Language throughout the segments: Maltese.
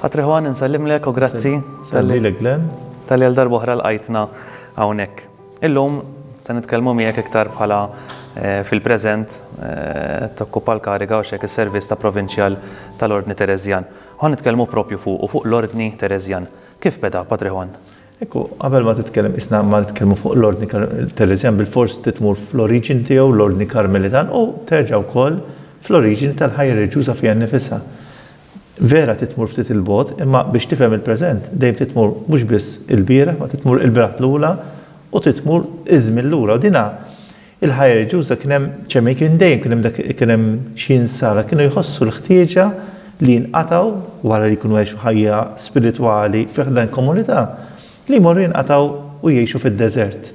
Patri Juan insellimlek u grazzi talli għal darba oħra lqajtna hawnhekk. Illum se nitkellmu miegħek iktar bħala fil-preżent tokkupa l-kariga u x'hekk is-servizz ta' Provinċjal tal-Ordni Tereżjan. Ħa nitkellmu proprju fuqu, fuq l-Ordni Tereżjan. Kif beda, Patri Juan? Ekku, qabel ma titkellem qisna ma nitkellmu fuq l-Ordni Tereżjan bilfors trid tmur fl-oriġini tiegħu, l-Ordni Karmelitan, u terġa' wkoll fl-oriġini tal-ħajja reliġjuża fiha nnifisha. Vera trid tmur ftit 'il bogħod, imma biex tifhem il-preżent dejjem trid tmur mhux biss il-bieraħ ma trid tmur il-bnat l-ula u trid tmur iż-żmien lura u dinha il-ħajja reliġjuża kien hemm ċemei kien dejjem kien hemm dak kien hemm xi insara kienu jħossu l-ħtieġa li jinqatgħu wara li jkunu għexu ħajja spiritwali fi ħdan komunità li jmorru jinqatgħu u jgħixu fid-deżert.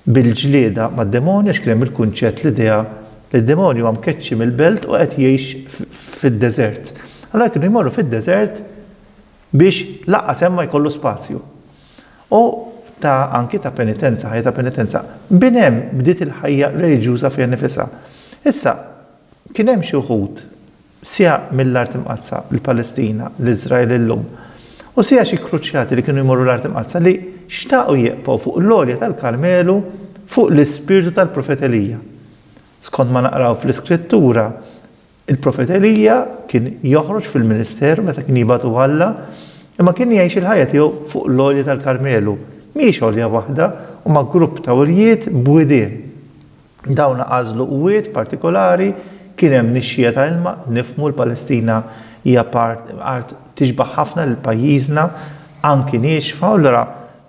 bil-ġlieda mad-demonju għax kien hemm il-kunċett, l-idea li d-demonju huwa mkeċċi mill-belt u qed jgħix fid-deżert. Allura kienu jmorru fid-deżert biex lanqas hemm ma jkollu spazju. U ta' anki ta' penitenza, ħajja ta' penitenza. Minn hemm bdiet il-ħajja reliġjuża fiha nnifisha. Issa, kien hemm xi wħud siegħa mill-Art Imqaddsa, il-Palestina, l-Iżrael illum, u siegħa xi kruċjati li kienu jmorru l-Art Imqaddsa li xtaqu jieqfgħu fuq l-għolja tal-Karmelu fuq l-ispirtu tal-Profet Elija. Skont ma naqraw fl-Iskrittura, il-Profet Elija kien joħroġ fil-ministeru meta kien jibagħtu Alla, imma kien jgħix il-ħajja tiegħu fuq l-għolja tal-Karmelu. Mhijiex għolja waħda, huma grupp ta' għoljiet b'widien. Dawn għażlu wied partikolari, kien hemm nixxiegħa ta' ilma, nifhmu l-Palestina hija part, art tixbah ħafna lil pajjiżna, anki niexfa, u allura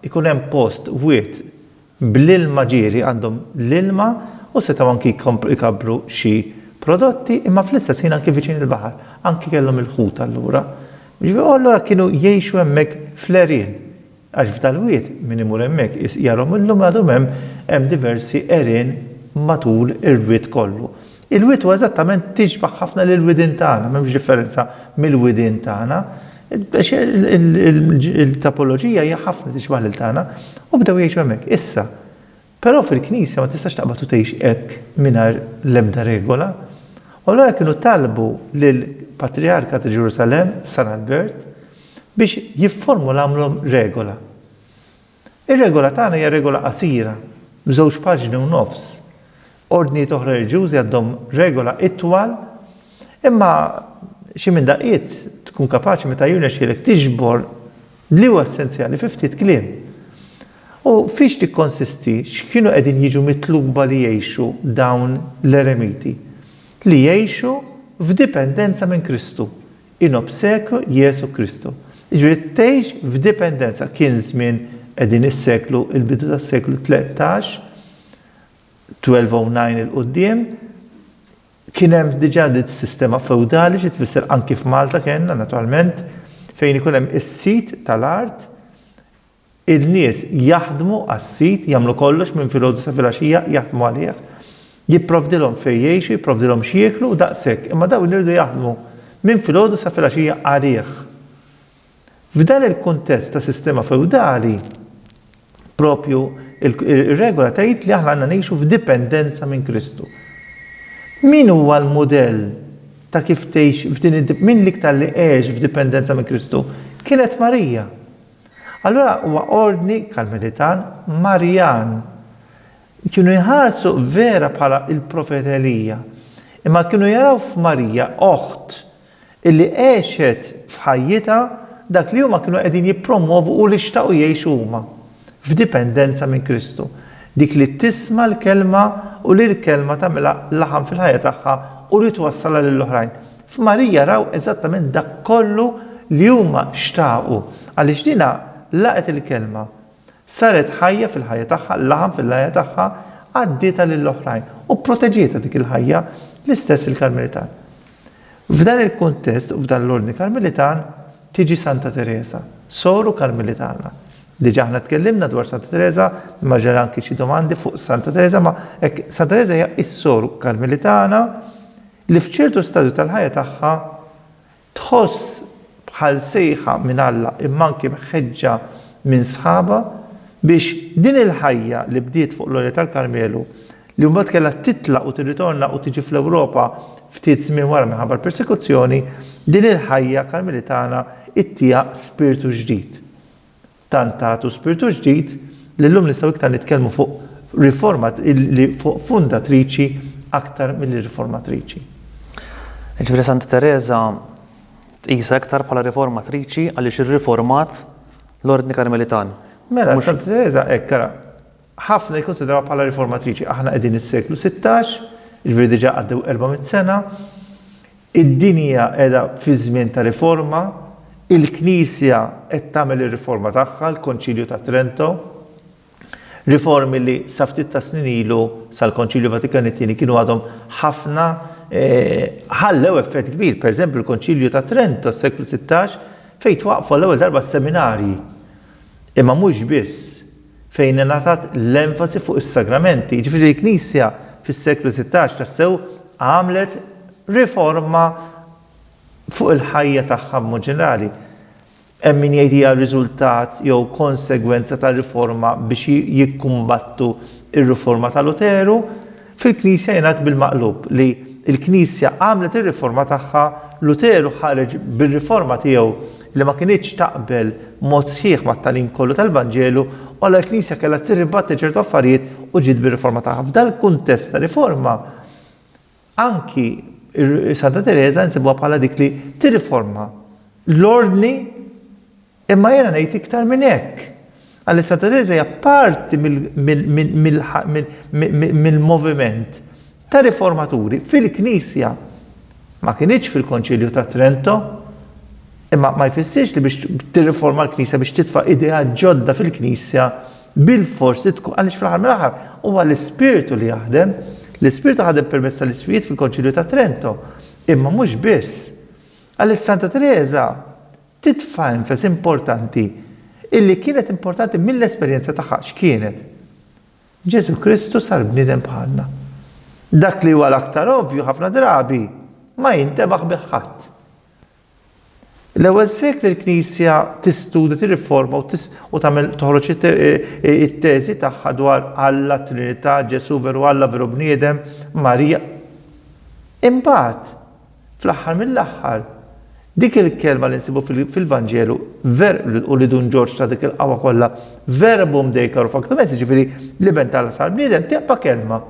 jkun hemm post, wied bl-ilma ġieri, għandhom l-ilma u setgħu anki jkabbru xi prodotti, imma fl-istess ħin anki viċin il-baħar, anki kellhom il-ħut allura. U allura kienu jgħixu hemmhekk fl-għerien. Għax f'dal-wied, min imur hemmhekk iqis jarhom illum għadhom hemm, hemm diversi għerien matul ir-wied kollu. Il-wied huwa eżattament tixbaħ ħafna lill-widien tagħna, m'hemmx differenza mill-widien tagħna. Il-tapoloġija hija ħafna tixbaħ lil tagħna u bdew jgħixu hemmhekk. Issa, Però fil-Knisja ma tistax taqbad u tgħix hekk mingħajr l-ebda regola. U allura kienu talbu lill-Patrijarka ta' Ġerusalemm, San Albert, biex jifformulamlhom regola. Ir-regola tagħna hija regola qasira, b'żewġ paġni u nofs, Ordnijiet oħra reliġjużi għaddhom regola itwal, imma xi minn daqqiet tkun kapaċi meta jirnexxielek tiġbor li huwa essenzjali fi ftit kliem. U fiex tikkonsisti, x'kienu qegħdin jiġu mitluba li jgħixu dawn l-eremiti? Li jgħixu f'dipendenza minn Kristu, in obsequio Jesu Christo. Jiġifieri tgħix f'dipendenza. Kien żmien qegħdin is-seklu, il-bidu tas-seklu tlettax, 1209 'il quddiem kien hemm diġà dik sistema feudali xi tfisser anki f'Malta kellna naturalment fejn ikun hemm is-sid tal-art in-nies jaħdmu għas-sid jagħmlu kollox minn filgħodu sa filgħaxija jaħdmu għalih jipprovdilhom fejn jgħixu jipprovdilhom x'jieklu u daqshekk imma dawn iridu jaħdmu minn filgħodu sa filgħaxija għalih. F'dan il-kuntest ta' sistema feudali, propju ir-regola tgħid li aħna għandna ngħixu f'dipendenza minn Kristu. Min huwa l-mudell ta' kif tgħix f'din id min l-iktar li għex f'dipendenza minn Kristu? Kienet Marija. Allura huwa ordni karmelitan Marjan. Kienu jħarsu vera bħala il-profet Elija. Imma kienu jaraw f'Marija oħt illi għexet f'ħajjitha dak li huma kienu qegħdin jippromwovu u li xtaqu jgħixu huma, f'dipendenza minn Kristu, dik li tisma' l-Kelma u li l-Kelma tagħmilha laħam fil-ħajja tagħha u li twassalha lill-oħrajn. F'Marija raw eżattament dak kollu li huma xtaqu, għaliex din laqgħet il-Kelma, saret ħajja fil-ħajja tagħha, laħam fil-ħajja tagħha, għaddietha lill-oħrajn u pproteġietha dik il-ħajja, l-istess il-Karmelitan. F'dan il-kuntest u f'dan l-ordni Karmelitan tiġi Santa Tereża, Soru Karmelitana. Diġà aħna tkellimna dwar Santa Tereża, imma ġew anki xi domandi fuq Santa Tereża, ma hekk Santa Tereża hija s-Soru Karmelitana li f'ċertu stadju tal-ħajja tagħha tħoss bħal sejħa minn Alla imma anki mħeġġa minn sħabha biex din il-ħajja li bdiet fuq l-għolja tal-Karmelu li mbagħad kellha titlaq u tirritorna u tiġi fl-Ewropa ftit żmien wara minħabba l-persekuzzjoni, din il-ħajja Karmelitana ittieha spirtu ġdid. Tant tagħtu spirtu ġdid li llum nistgħu iktar nitkellmu fuq riforma li fuq fundatriċi aktar milli riformatriċi. Jiġifieri Santa Tereża tqisha iktar bħala riformatriċi għaliex irriformat l-Ordni Karmelitan. Mela, Santa Tereża hekk ara. Ħafna jikkunsidrawha bħala riformatriċi. Aħna qegħdin is-seklu sittax, jiġifieri diġà għaddew erba' mitt sena. Id-dinja qiegħda fi żmien ta' riforma. Il-Knisja qed tagħmel ir-riforma tagħha, l-Konċilju ta' Trento. Riformi li sa ftit ta' snin ilu sal-Konċilju Vatikan it-Tieni kienu għadhom ħafna ħallew effett kbir. Pereżempju l-Konċilju ta' Trento s-seklu sittax fejn twaqqfu l-ewwel darba s-seminarji. Imma mhux biss, fejn ingħatat l-enfasi fuq is-sagramenti. Jiġifieri l-Knisja fis-seklu sittax tassew għamlet riforma fuq il-ħajja tagħha b'mod ġenerali. Hemm min jgħid hija riżultat jew konsegwenza tar-riforma biex jikkumbattu r-riforma ta' Luteru, Fil-Knisja jingħad bil-maqlub li l-Knisja għamlet ir-riforma tagħha, Luteru ħareġ bir-riforma tiegħu li ma kinitx taqbel b'mod sħiħ mat-tagħlim kollu tal-Vanġelu u allura l-Knisja kellha tirribattli ċertu affarijiet u ġiet bir-riforma tagħha. F'dal-kuntest ta' riforma anki Santa Tereża nsibuha bħala dik li tirriforma l-ordni Imma jiena ngħid iktar minn hekk, għaliex Santa Tereża hija parti mill-moviment ta' riformaturi fil-Knisja. Ma kinitx fil-Konċilju ta' Trento, imma ma jfissirx li biex tirriforma l-Knisja, biex titfa' ideat ġodda fil-Knisja, bilfors li tkun, għaliex fl-aħħar mill-aħħar huwa l-Ispirtu li jaħdem. L-Ispirtu ħadem permezz tal-isqfijiet fil-Konċilju ta' Trento, imma mhux biss. Għaliex Santa Tereża titfa' enfasi importanti illi kienet importanti mill-esperjenza tagħha. X'kienet? Ġesù Kristu sar bniedem bħalna. Dak li huwa l-aktar ovvju ħafna drabi ma jintebaħ bih ħadd. L-ewwel sekli l-Knisja tistudja, tirriforma u tagħmel toħroġ it-teżi tagħha dwar Alla, t-Trinità, Ġesù veru Alla, veru bniedem, Marija. Imbagħad, Fl-aħħar mill-aħħar, dik il-kelma li nsibu fil-Vanġelu, ver, u li Dun Ġorġ ta dik il-qawwa kollha, verbum Dei caro factum est, jiġifieri l-Iben t'Alla sar bniedem, tibqa' kelma.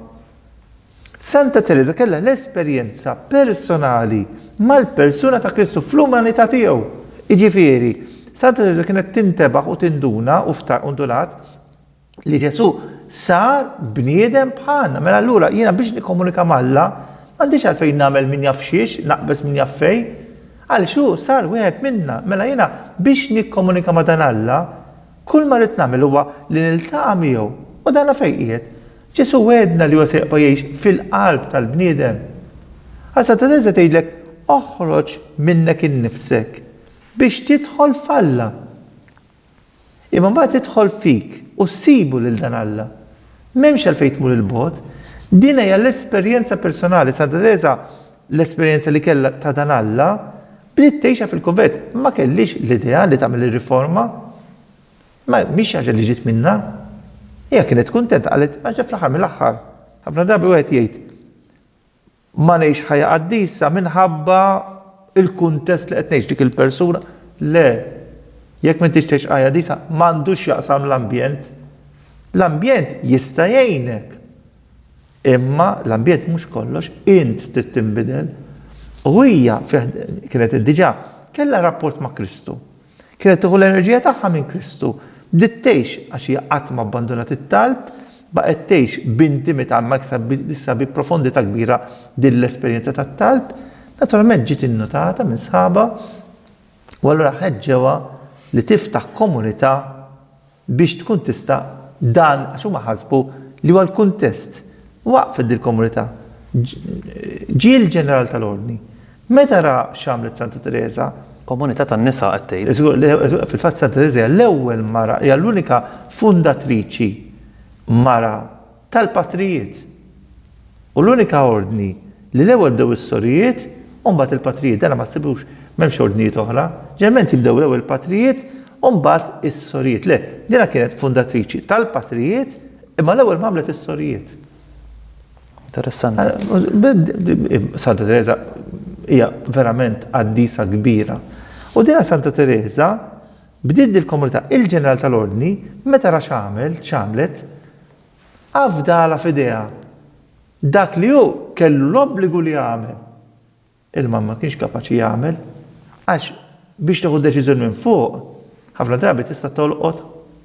Santa Tereża kellha l-esperjenza personali mal-persuna ta' Kristu fl-umanità tiegħu. Jiġifieri, Santa Tereża kienet tintebaħ u tinduna u ndunat li Ġesù sar bniedem bħalna. Mela allura jiena biex nikkomunika m'Alla m'għandix għalfejn nagħmel min jaf xiex, naqbeż min jaf fejn. Għaliex hu sar wieħed minna. Mela jiena biex nikkomunika ma' dan Alla, kull ma rrid nagħmel huwa li niltaqa' miegħu. U dan fejn qiegħed? Ġesù wegħedna li huwa se jibqa' jgħix fil-qalb tal-bniedem. Għal Santa Tereża tgħidlek oħroġ minnek innifsek biex tidħol f'Alla. Imma mbagħad jidħol fik u ssibu lil dan Alla. M'hemmx għalfejn tmur 'il bogħod. Din hija l-esperjenza personali, Santa Tereża l-esperjenza li kellha ta' dan Alla, bdiet tgħixha fil-kunvent. Ma kellhiex l-idea li tagħmel ir-riforma. Ma mhix xi ħaġa li ġiet minnha. Hija kienet kuntenta, qalet, għax fl-aħħar mill-aħħar, ħafna drabi wieħed jgħid, Ma ngħix ħajja qaddisa minħabba l-kuntest li qed ngħix, dik il-persuna. Le. Jekk m'intix tgħix ħajja qaddisa, m'għandu x'jaqsam l-ambjent. L-ambjent jista' jgħinek. Imma l-ambjent mhux kollox, int trid tinbidel. U hija, kienet diġà, kellha rapport ma' Kristu. Kienet tieħu l-enerġija tagħha minn Kristu. Bdiet tgħix għax hija qatt ma abbandunat it-talb, baqgħet tgħix b'intimità ma' issa bi profondità kbira din l-esperjenza tat-talb. Naturalment ġiet innutata minn sħabha u allura ħeġġewha li tiftaħ komunità biex tkun tista' dan għax huma ħasbu li huwa l-kuntest. Waqfet dil-komunità. Ġie l-ġeneral tal-Ordni. Meta ra x'għamlet Santa Tereża. Komunità tan-nisa qed tgħid? Żgur, fil-fatt Santa Tereża hija l-ewwel mara, hija l-unika fundatriċi mara. tal-patrijiet. U l-unika ordni li l-ewwel bdew is-sorijiet u mbagħad il-patrijiet. Dan ma ssibux, m'hemmx ordnijiet oħra. Ġeneralment jibdew l-ewwel il-patrijiet u mbagħad is-sorijiet. Le, dinha kienet fundatriċi tal-patrijiet imma l-ewwel ma għamlet is-sorijiet. Interessanti. Santa Teresa hija verament qaddisa kbira. U dinha Santa Teresa Bdiet dil-komunità il-ġeneral tal-Ordni meta ra x'għamel, x'għamlet, afdalha f'idejha dak li hu kellu l-obbligu li jagħmel, ilma ma kienx kapaċi jagħmel, għax biex tieħu deċiżjoni minn fuq, ħafna drabi tista' tolqot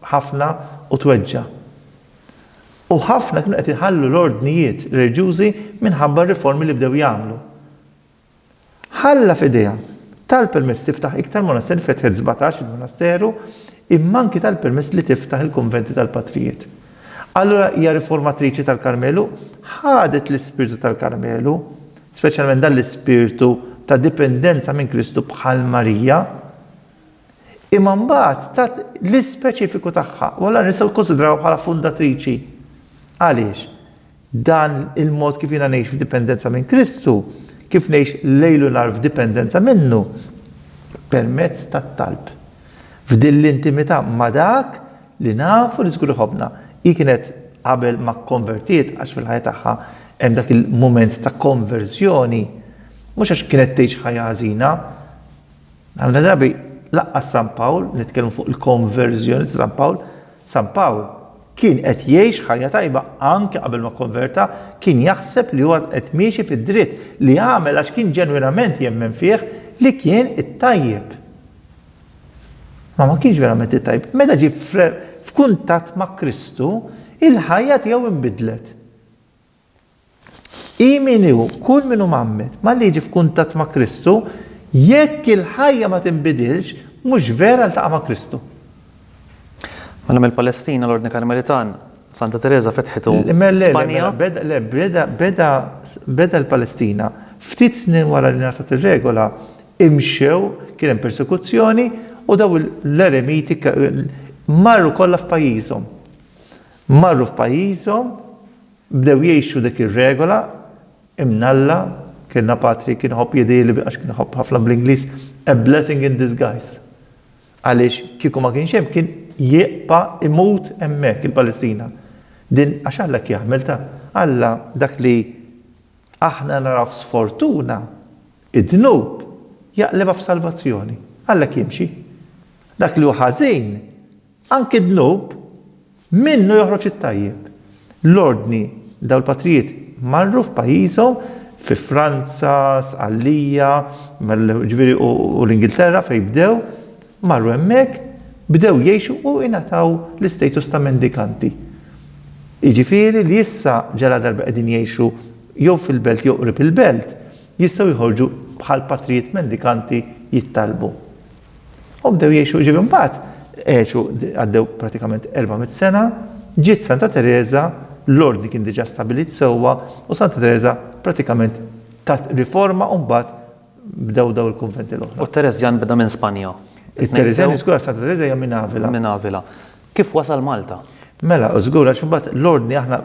ħafna u tweġġa'. U ħafna kienu qed iħallu l-ordnijiet reliġjużi minħabba r-riformi li bdew jagħmlu. Ħalla f'idejha. Tal-permess tiftaħ iktar monasteri fetħet sbatax il-monasteru imma anki tal-permess li tiftaħ il-kunventi tal-patrijiet. Allura hija riformatriċi tal-Karmelu, ħadet l-ispirtu tal-Karmelu, speċjalment dan l-ispirtu ta' dipendenza minn Kristu bħal Marija, imma mbagħad tat l-ispeċifiku tagħha u allura nistgħu kkunsidrawha bħala fundatriċi. Għaliex? Dan il-mod kif jiena ngħix f'dipendenza minn Kristu, kif ngħix lejl u nhar f'dipendenza minnu? Permezz tat-talb. F'din l-intimità ma' Dak li nafu li żgur iħobbna. Hi kienet qabel ma kkonvertiet, għax fil-ħajja tagħha hemm dak il-mument ta' konverżjoni, mhux għax kienet tgħix ħajja ħażina. Ħafna drabi lanqas San Pawl, nitkellmu fuq il-konverżjoni ta' San Pawl, San Pawl kien qed jgħix ħajja tajba anke qabel ma kkonverta, kien jaħseb li huwa qed miexi fid-dritt li għamel għax kien ġenwinament jemmen fih li kien it-tajjeb. Ma ma kienx verament it-tajjeb. Meta ġie f'kuntatt ma' Kristu, il-ħajja tiegħu inbidlet. Hi min hi hu, kull min hu mgħammed, malli jiġi f'kuntatt ma' Kristu, jekk il-ħajja ma tinbidilx, mhux vera ltaqa' ma' Kristu. Mela mill-Palestina l-Ordni Karmelitan Santa Tereża fetħitu Spanja. Le, beda l-Palestina. Ftit snin wara li ngħatat ir-regola, imxew, kien hemm persekuzzjoni u dawn l-eremiti marru kollha f'pajjiżhom. Marru f'pajjiżhom, bdew jgħixu dik ir-regola, imnalla, kellna patri kien iħobb jidhirli bi għax kien iħobb ħafna bl-Ingliż, a blessing in disguise. Għaliex kieku ma kienx hemm kien jibqa' imut hemmhekk il-Palestina. Din għax Alla hekk jagħmel ta. Alla dak li aħna narawh sfortuna, id-dnub, jaqlibha f'salvazzjoni. Alla hekk jimxi. Dak li hu ħażin, Anki d-dnub, minnu joħroġ it-tajjeb. L-Ordni, dawn il-patrijiet marru f'pajjiżhom, fi Franza, Sqallija, ġifieri u l-Ingilterra fejn bdew, marru hemmhekk, bdew jgħixu u ingħataw l-istatus ta' mendikanti. Jiġifieri li issa ġaladarba qegħdin jgħixu jew fil-belt jew qrib il-belt, jistgħu joħorġu bħall-patrijiet mendikanti jittalbu. U bdew jgħixu, ġifieri mbagħad għexu għaddew pratikament 400 sena, ġiet Santa Tereża, l-ordni kien diġà stabbilit sewwa u Santa Tereża pratikament tat riforma u mbagħad bdew dawn il-kunventi l-oħra. U t-Tereżjan beda minn Spanja? It-Tereżjan, żgur, Santa Tereża hija minn Avila. Minn Avila. Kif wasal Malta? Mela, żgur għax imbagħad l-ordni aħna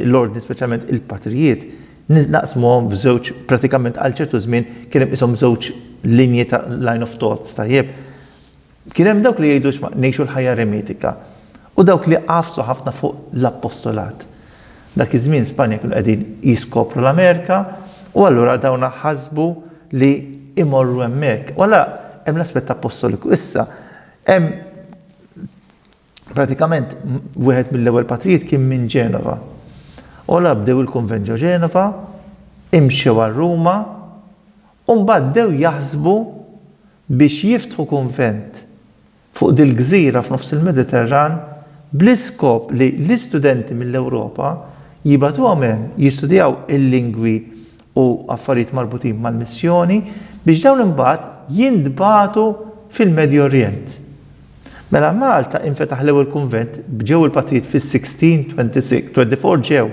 l-ordni speċjalment il-patrijiet naqsmuhom f'żewġ pratikament għal ċertu żmien kien hemm qishom żewġ linji ta' line of thoughts tajjeb. Kien hemm dawk li jgħidu ngħixu l-ħajja eremitika u dawk li għafsu ħafna fuq l-appostolat. Dak iż-żmien Spanja kienu qegħdin jiskopru l-Amerika u allura dawn ħasbu li imorru hemmhekk. U allura hemm l-aspett appostoliku. Issa hemm Pratikament wieħed mill-ewwel patrijiet kien minn Ġenova. Ola bdew il-kunvent ġo Ġenova, imxew għal Ruma u mbagħad bdew jaħsbu biex jiftħu kunvent fuq dil-gżira f'nofs il-Mediterran bl-iskop li l-istudenti mill-Ewropa jibgħatuhom hemm jistudjaw il-lingwi u affarijiet marbutin mal-missjoni, biex dawn imbagħad jintbagħtu fil-Medju Orjent. Mela Malta infetaħ l-ewwel kunvent, bġew il-patrijiet fis-1626, twenty-four ġew,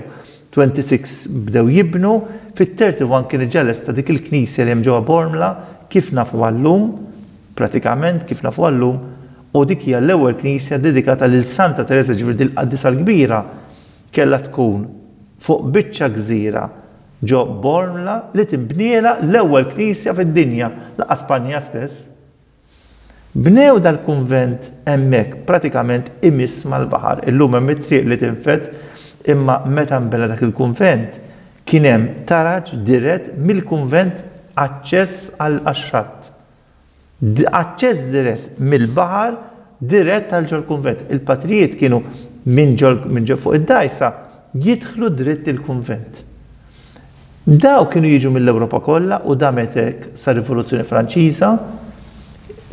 twenty-six bdew jibnu, fit-thirty one kienet ġa lesta dik il-knisja li hemm ġewwa Bormla kif nafuha llum, pratikament kif nafuha llum, u dik hija l-ewwel knisja ddedikata lil Santa Tereża, jiġifieri din il-Qaddisa l-Kbira kellha tkun fuq biċċa gżira, Ġo Bormla li tinbnielha l-ewwel knisja fid-dinja, laqgħa Spanja stess. Bnew dal-kunvent hemmhekk pratikament imiss mal-baħar. Illum hemm it-triq li tinfed imma meta nbena dak il-kunvent kien hemm taraġ dirett mill-kunvent aċċess għax-xatt. Aċċess dirett mill-baħar dirett għal ġol-kunvent. Il-patrijiet kienu minn ġol fuq id-dgħajsa jidħlu dritt il-kunvent. Dawk kienu jiġu mill-Ewropa kollha u damet hekk sar-Rivoluzzjoni Franċiża.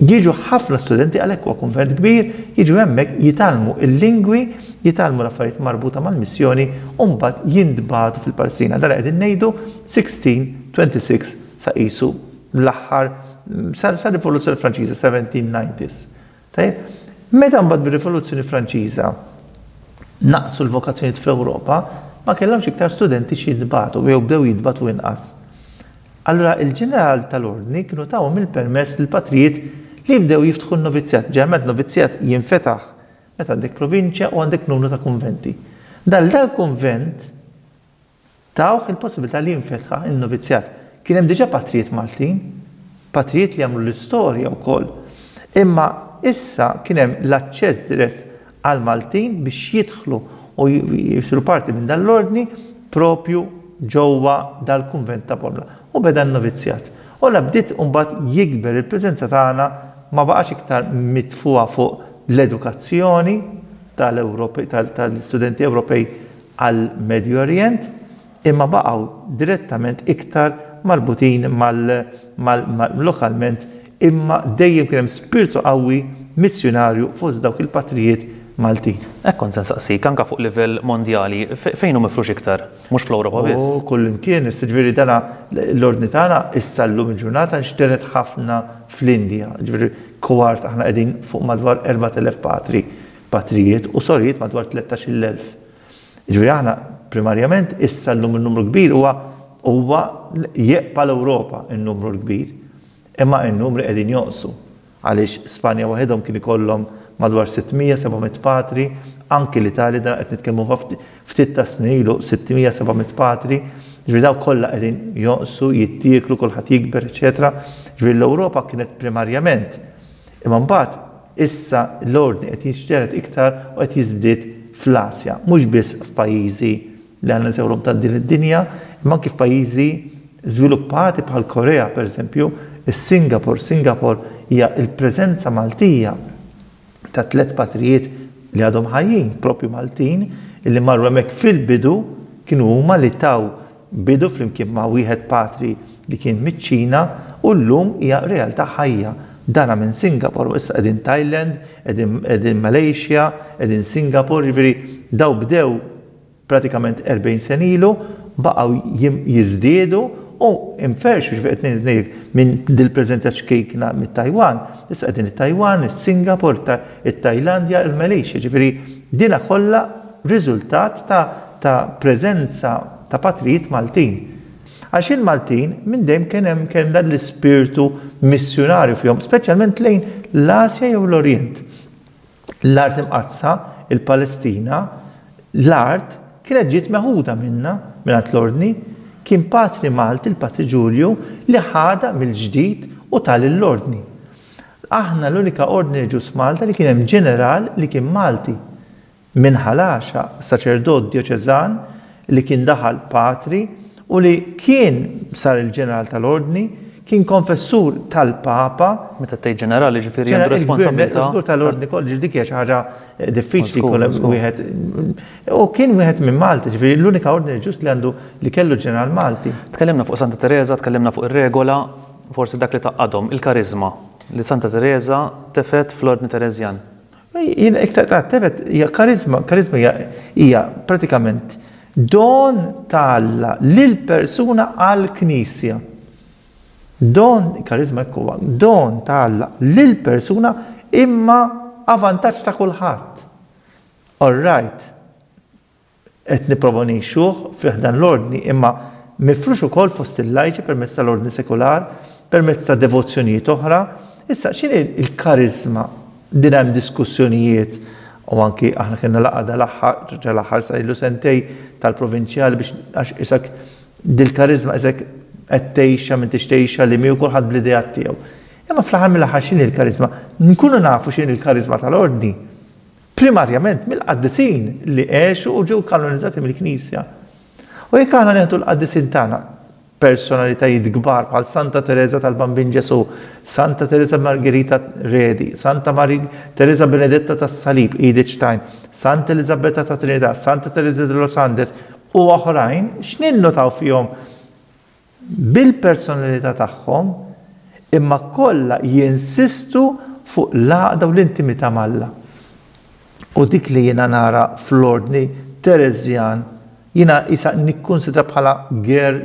Jiġu ħafna studenti għalhekk huwa kunvent kbir, jiġu hemmhekk jitgħallmu l-lingwi, jitgħallmu l-affarijiet marbuta mal-missjoni u mbagħad jintbagħtu fil-Palestina. Dan li qegħdin ngħidu 1626 sa qisu L-aħħar, sar-Rivoluzzjoni Franċiża, 1790s. Tajjeb? Meta mbagħad bir-Rivoluzzjoni Franċiża naqsu l-vokazzjonijiet fl-Ewropa, ma kellhomx iktar studenti x'jintbagħtu jew bdew jintbagħtu inqas. Allura il-ġeneral tal-ordni kienu tawhom il-permess lill-patrijiet li jibdew jiftħu n-novizzjat. Ġeneralment novizzjat jinfetaħ meta għandek provinċja u għandek numru ta' kunventi. Dal-dal-kunvent Tawh il-possibilità li jinfetħa n-novizzjat. Kien hemm diġà patrijiet Maltin, patrijiet li għamlu l-istorja wkoll. Imma issa kien hemm l-aċċess dirett għall-Maltin biex jidħlu u jsiru parti minn dan l-ordni proprju ġewwa dal-kunvent ta' Bormla. U beda n-novizzjat. U la bdiet imbagħad jikber il-preżenza tagħna ma baqgħax iktar mitfugħa fuq l-edukazzjoni tal-Ewropej tal-istudenti Ewropej għall-Medju Orjent imma baqgħu direttament iktar marbutin mal-lokalment imma dejjem kien hemm spirtu qawwi missjunarju fost dawk il-patrijiet Maltin. Hekk kont se nsaqsik, anke fuq livell mondjali, fejn hu mifrux iktar? Mhux fl-Ewropa biss. Oh, kullimkien, issa ġifieri dana l-Ordni tagħna issa llum il-ġurnata nxtered ħafna fl-Indja, ġifieri kwart aħna qegħdin fuq madwar 4,000 patri. patrijiet u sorijiet madwar 13,000. Jiġifieri aħna primarjament issa llum in-numru kbir huwa huwa jeqpa' l-Ewropa n-numru l-kbir. Imma n-numri qegħdin jonqsu għaliex Spanja waħedhom kien ikollhom madwar 600, 700 patri, anki l-Italja dan qed nitkellmu fa' ftit tas-snin ilu 600, 700 patri, jiġifieri dawn kollha qegħdin jonqsu, jittieklu, kulħadd jikber, eċċetera. Jiġifieri l-Ewropa kienet primarjament imma mbagħad Issa l-ordni qed jiġtered iktar u qed jiżdied fl-Asja, mhux biss f'pajjiżi li għandna nsejħulhom ta' din id-dinja, imma anki f'pajjiżi żviluppati bħal Korea, pereżempju, is-Singapore. Singapore hija l-preżenza Maltija ta' tliet patrijiet li għadhom ħajjin, proprju Maltin, li marru hemmhekk fil-bidu, kienu huma li taw Bidu flimkien ma' wieħed patri li kien miċ-Ċina u llum hija realtà ħajja. Dana minn Singapore u issa qegħdin Thailand, qegħdin qegħdin Malaysia, qegħdin Singapore, jiġifieri dawn bdew pratikament 40 sena ilu, baqgħu jiżdiedu u nferxu, jiġifieri qed ngħid ngħidlek minn dil-preżent qed xkejkna mit-Tajwan, issa qegħdin it-Tajwan, is-Singapore, it-Tajlandja, il-Malaysia, jiġifieri dina kollha, riżultat ta' ta' preżenza ta' patrijiet Maltin. Għax il-Maltin minn dejjem kien hemm kellha l-ispirtu missjunarju fihom, speċjalment lejn l-Asja jew l-Orjent. L-Art Imqaddsa, il-Palestina, l-art kienet ġiet meħuda minna, mingħand l-Ordni. Kien Patri Malti, il-Patri Ġulju, li ħadha mill-ġdid u tah lill-Ordni. Aħna l-unika Ordni Reliġjuż f'Malta li kien hemm ġeneral li kien Malti. Minn Ħal Għaxaq, saċerdot djoċeżan li kien daħal patri u li kien sar il-Ġeneral tal-Ordni, kien konfessur tal-Papa, Meta tgħid ġenerali jiġifieri għandu responsabbiltà ta' Żgur tal-Ordni kollu, ġifieri dik hija xi ħaġa diffiċli jkun hemm wieħed. U kien wieħed minn Malta, ġifieri l-unika Ordni reliġjuż li għandu li kellu ġeneral Malti. Tkellimna fuq Santa Tereża, tkellimna fuq ir-regola, forsi dak li tgħaqqadhom, il-kariżma li Santa Tereża tefgħet fl-Ordni Tereżjan. Jien iktar ta' tefet hija kariżma, kariżma hija hija pratikament don ta' Alla lil persuna għall-Knisja. Don, kariżma hekk huwa, don ta' Alla lil persuna imma a vantaġġ ta' kulħadd. All right. qed nipprova ngħixuh fi ħdan l-Ordni imma mifrux ukoll fost il-lajċi permezz tal-Ordni Sekular, permezz ta' devozzjonijiet oħra. Issa, x'inhi l-kariżma? Din hemm diskussjonijiet u anki aħna kellna laqgħa dal-aħħar, dal-aħħar sa ilu sentej tal-provinċjali biex għax isek dil-kariżma isek qed tgħixha minn tix tgħixha li miegħu kulħadd bl-ideat tiegħu. Imma fl-aħħar mill-aħħar x'inhi l-kariżma? Nkunu nafu x'inhi l-kariżma tal-Ordni. primarjament mill-qaddisin li għexu u ġew kanonizzati mill-Knisja. U jekk aħna neħdu l-qaddisin tagħna, personalitajiet kbar bħal Santa Teresa tal-Bambin Ġesù, Santa Teresa Margherita Redi, Santa Mari Teresa Benedetta tas-Salib, Edith Stein, Santa Elizabetta ta' Trinità, Santa Teresa de los Andes u oħrajn, x'ninnotaw fihom bil-personalità tagħhom, imma kollha jinsistu fuq l-għaqda u l-intimità m'Alla. U dik li jiena nara fl-Ordni Teresian, jiena qisha nikkunsidra bħala girl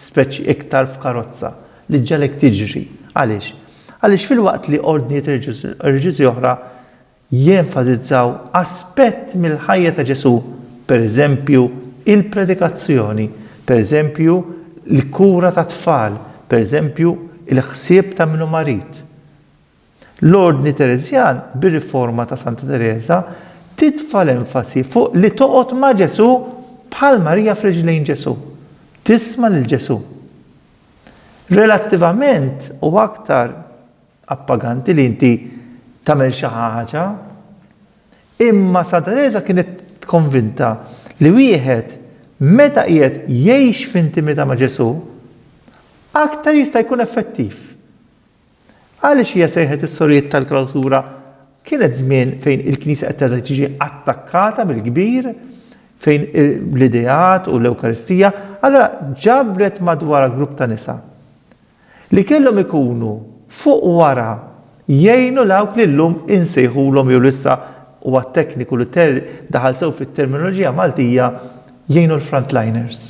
speċi iktar f'karozza, li ġġegħlek tiġri. Għaliex? Għaliex filwaqt li ordnijiet reliġjużi oħra jenfasizzaw aspett mill-ħajja ta' Ġesù, pereżempju, il-predikazzjoni, pereżempju, l-kura tat-tfal, pereżempju, il-ħsieb ta' min hu marid. L-Ordni Tereżjan, bir-riforma ta' Santa Tereża, titfa' l-enfasi fuq li toqgħod ma' Ġesù bħal Marija f'riġlejn Ġesù, tisma' lil Ġesù. Relattivament, u aktar appaganti li inti tagħmel xi ħaġa, imma San Tereża kienet konvinta li wieħed meta qiegħed jgħix f'intimità ma' Ġesù, aktar jista' jkun effettiv. Għaliex hija sejħet is-sorijiet tal-klawsura? Kienet żmien fejn il-Knisja qed terġa' tiġi attakkata mill-kbir, fejn l-ideat u l-Ewkaristija, allura ġabret madwarha grupp ta' nisa. li kellhom ikunu fuq wara jgħinu dawk li llum insejħulhom jew li issa huwa tekniku li daħal sew fit-terminoloġija Maltija jgħinu l-frontliners.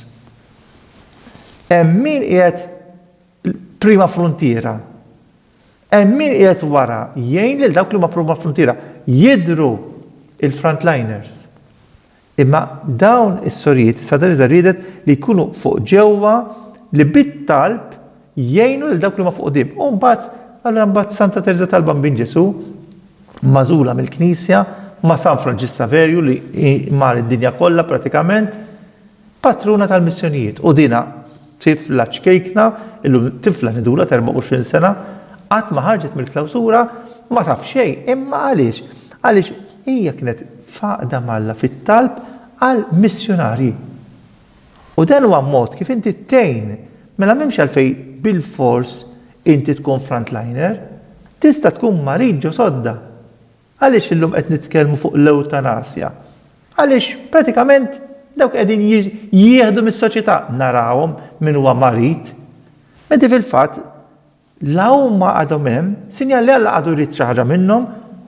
Hemm min qiegħed prima fruntiera. Hemm min qiegħed wara jgħin lil dawk li huma prima fruntiera. Jidhru l-frontliners. Imma dawn is-sorijiet Santa Tereża riedet li jkunu fuq ġewwa li bit-talb jgħinu lil dawk li huma fuq quddiem. U mbagħad, allura mbagħad Santa Tereża tal-Bambin Ġesù, magħżula mill-Knisja, ma' San Franġisk Saverju li hi mar id-dinja kollha pratikament, patruna tal-missjonijiet. U dinha. Tifla ċkejkna, illum tifla nidula ta' 24 sena, qatt ma ħarġet mill-klawsura, ma taf xejn, imma għaliex? Għaliex hija kienet f'għaqda m'Alla fit-talb għal missjunarji. U dan huwa mod kif inti tgħin, mela m'hemmx għalfejn bilfors inti tkun frontliner. Tista' tkun marid ġo sodda. Għaliex illum qed nitkellmu fuq l-ewtanasja? Għaliex pratikament dawk qegħdin jieħdu mis-soċjetà narawhom min huwa marid. Meta fil-fatt la huma għadhom hemm, sinjal li Alla għadu jrid xi ħaġa minnhom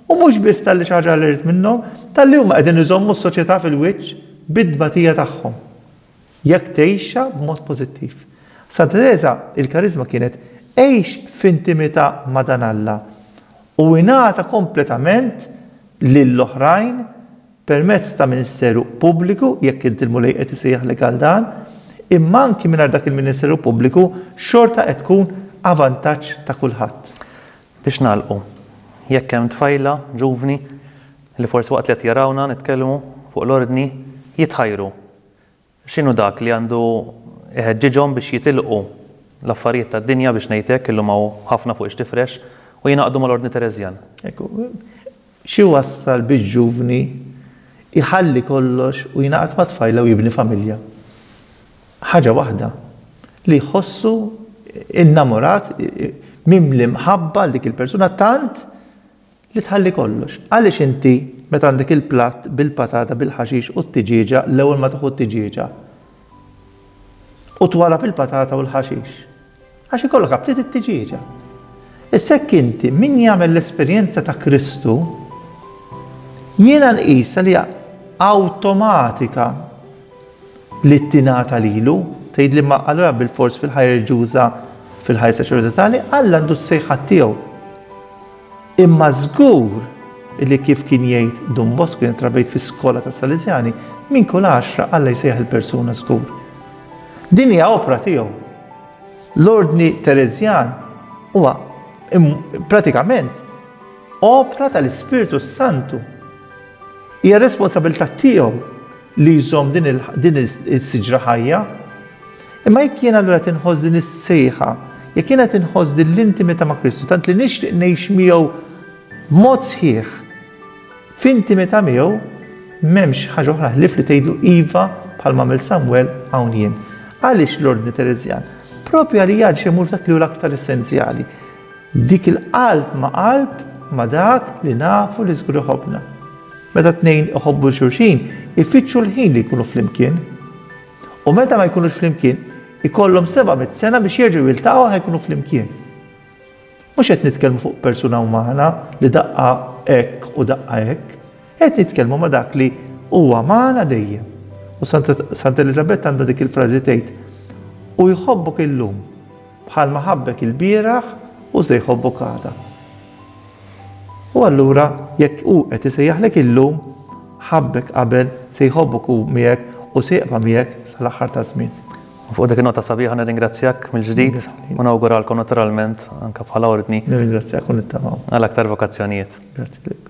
u mhux biss talli xi ħaġa Alla jrid minnhom, talli huma qegħdin iżommu s-soċjetà fil-wiċċ bit-tbatija tagħhom. Jekk tgħixha b'mod pożittiv. Sa Tereża il-kariżma kienet Għix f'intimità ma' dan Alla u ingħata kompletament lil oħrajn permezz ta' ministeru pubbliku, jekk int il-Mulej qed isejjaħlek għal dan, imma anki mingħajr dak il-ministeru pubbliku xorta qed tkun a vantaġġ ta' kulħadd. Biex nagħlqu, jekk hemm tfajla, ġuvni, li forsi waqt li qed jarawna nitkellmu fuq l-Ordni jitħajru, X'inhu dak li għandu jħeġġiġhom biex jitilqu l-affarijiet tad-dinja, biex ngħid hekk, illum hawn ħafna fuq ix-tifrex, u jingħaqdu mal-Ordni Tereżjan? Ekku, x'iwassal biex ġuvni jħalli kollox u jingħaqad ma' tfajla u jibni familja? Ħaġa waħda, li jħossu innamorat, mimli mħabba għal dik il-persuna tant Li tħalli kollox. Għaliex inti meta għandek il-platt bil-patata bil-ħaxix u t-tiġieġa l-ewwel ma tieħu t-tiġieġa u twarrab il-patata u l-ħaxix? Għax ikollok aptit it-tiġieġa. Issa hekk inti min jagħmel l-esperjenza ta' Kristu jiena nqisha li hija awtomatika li tingħata lilu, tgħidli ma allura bilfors fil-ħajja reliġjuża, fil-ħajja saċerdotali, Alla għandu s-sejħat tiegħu. Imma żgur li kif kien jgħid Dun Bosco jien trabejt fis-skola ta' Salesjani, minn kull għaxra Alla jsejħ il-persuna żgur. Din hija opra tiegħu. L-ordni Terezjan huwa pratikament opra tal-Ispirtu Santu. Hija responsabilità tiegħu li jżomm din is-siġra ħajja. Imma jekk jien allura qed inħoss din is-sejħa, jekk jien qed inħoss din l-intimità ma' Kristu, tant li nixtieq ngħix miegħu b'mod sħiħ f'intimità miegħu, m'hemmx ħaġa oħra ħlief li tgħidu iva bħal mamil Samuel hawn jien. Għaliex l-ordni Terezjan? Propju għalija għal xemur dak li hu l-aktar essenzjali. Dik il-qalb ma' qalb ma' dak li nafu li żgur iħobbna. Meta tnejn iħobbu 'l xulxin, ifittxu l-ħin li jkunu flimkien. U meta ma jkunux flimkien, ikollhom seba' mitt sena biex jerġgħu jiltaqgħu ħa jkunu flimkien. Mhux qed nitkellmu fuq persuna umana li daqqa hekk u daqqa hekk. Qed nitkellmu ma' dak li huwa magħna dejjem. U Santa Eliżabetta għandha dik il-frażi tgħid, U jħobbok illum. Bħalma ħabbek ilbieraħ hu se jħobbok għada. U allura jekk hu qed isejjaħlek illum, ħabbek qabel se jħobbok hu miegħek u se jibqa' miegħek sal-aħħar taż-żmien. U fuq dik in-nota sabiħa nirringrazzjak mill-ġdid u nawguralkom naturalment anke bħala ordni. Nirringrazzjak u nittamaw. Għal aktar vokazzjonijiet. Grazzi lilek.